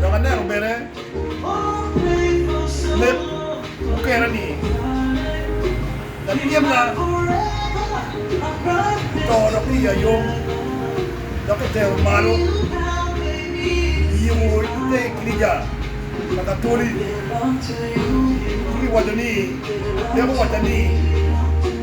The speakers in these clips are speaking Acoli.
Dok aneno bene leb mukerani labyena oto dok wiye ayom, dok etero malo i yiko ite i girica pa katoli, ci kiwaco ni, Leb owaca ni,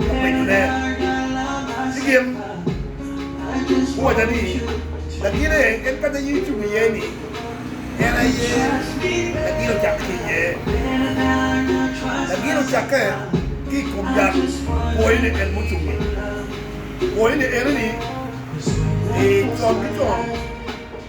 openyo-ne, Ci gin guwacca ni, Lagine en kanya in icung iye-ni, en aye lagin ocakke ki iye. Lagin ocakke ki i kom yat kwoyone en mucung-ngi. Kwoyone enoni, ee, con ki con.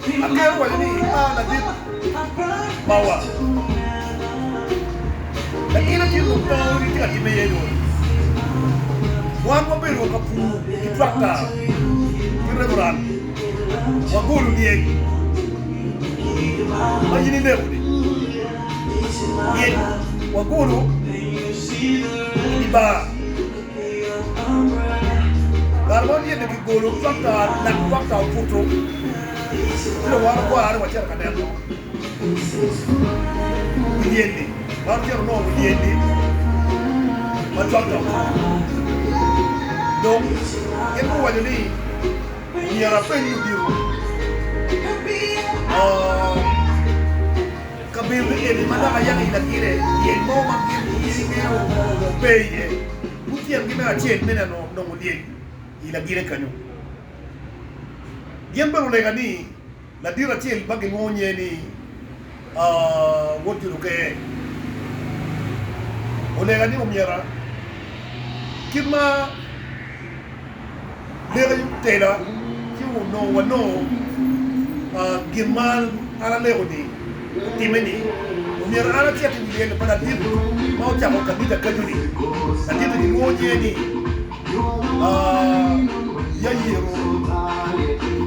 Aketo wacci ni imara ladit mawa. Latin acel dong pe ori tye ka timme iye dong. Wan wabedo ka pur ki twakta ki reburan. Wagolo lyec ma in ineko-ni. Lyec wagolo i bar. Kare ma wanyen-ni kigolo fakta lak fakta obuto ci dong wan ogwarre wacito ka neno muyeni wan ocito onongo muyeni ma fakta obuto dong gin guwaco ni myero apenyu odito Kabedo me yeni ma lak ayaka i lagine lyel mo ma gin i ngeyo pe iye. Lutyengi me acel mene onongo olyel i lagine kenyu. Gin bene olega ni ladit acel ma gilwongo nyer ni Woodjud Okee olega ni omyera kit ma. leko tela ci onongo wanongo gin ma an aleko ni otime ni omyero an acit i lyel pa ladit ma ocako kanisa kaco ni ladit ni kilwongo nyinge ni Yairo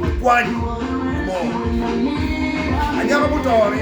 okwany mo anyaka muto ni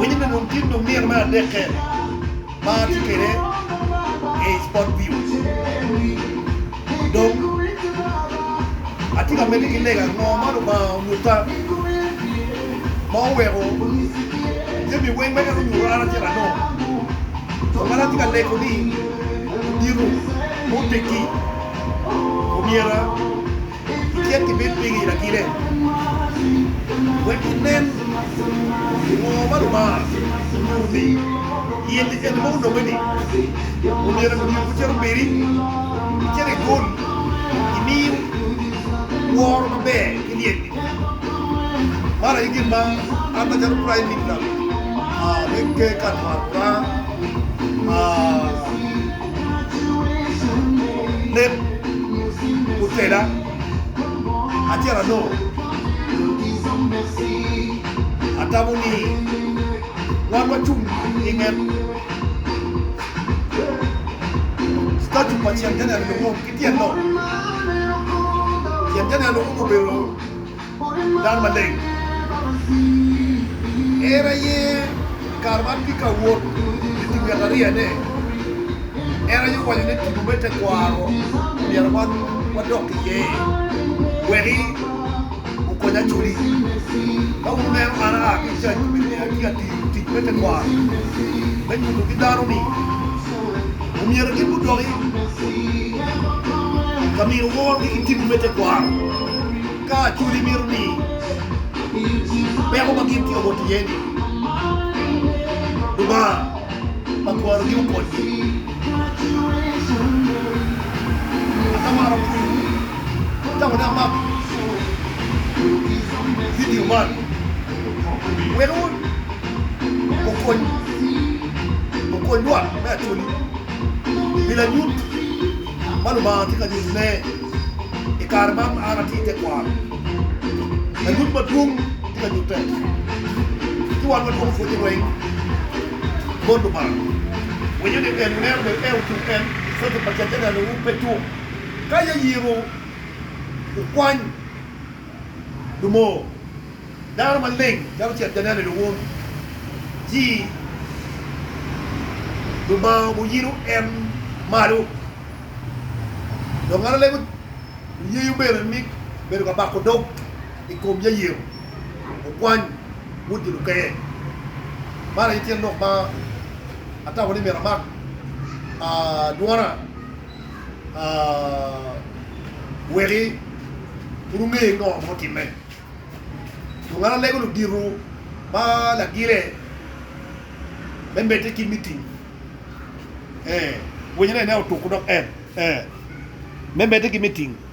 Winyo ni dong tye lum nino me adeke ma atye kwede i spot view dong atye ka miti ki lega ango ma lubanga onyuta ma oweko jami weng ma en onyuto an atye ka nongo kun kadi atye ka lego ni odito ma oteggi omyera cik kibed pigi i lagile, wek ginen ngo ma Lubanga onyuto ni in en ma ononge-ni omyero emiyo gucito kwedi, icak igol, imi woro maber ki lyel-li. Man aye gin ma an macalo praim minista me ker kare mwaka oraa. Leb otela acel anongo atamo ni wan wacung i nget statu pa Cen Janel Lukum ki tyen lok. Cen Janel Lukum obedo. dano maleng. En aye kare ma atye ka wot ki tic ngat ariyane. En aye owaco ni tipo me tekwaro myero wadok ki iye weki okony acwali. Ka wuneno an aa ki i cac obedo ni atye ka tiyo tic me tekwaro me nyuto ki dano ni omyero gin gudoki ka mino woro ki ki tipo me tekwaro. Ka cwodi mito ni peko ma gin tye obot iye-ni Lubanga ma kwarogi okonygi, atamaro pwonyi ka wuneno man vidio man wek okonywa me acwali pi lanyut ma Lubanga tye ka nyutone. I kare ma an atye i tekwaro, lanyut madwong tye ka nyutte ci wan watwoko pwonye weng bot Lubanga. Winyo ni en neno ni en ocung en Cwec pa Cece neno wu pe cuk ka ya yiro wu kwany lumoo dano maleng calo cet ja neno wun ci Lubanga obo yino en malo. Dong en olego yeyo bene ni bedo ka bako dog i kom Yair okwany bot jo lukeye. Man aye tyen lok ma atamo ni myero amak dwona weki pud onge ngo ma otimme. Dong an alego ludito ma lagire me medde ki miting. ee winyo ne otuko dok en ee me mede ki me tingo.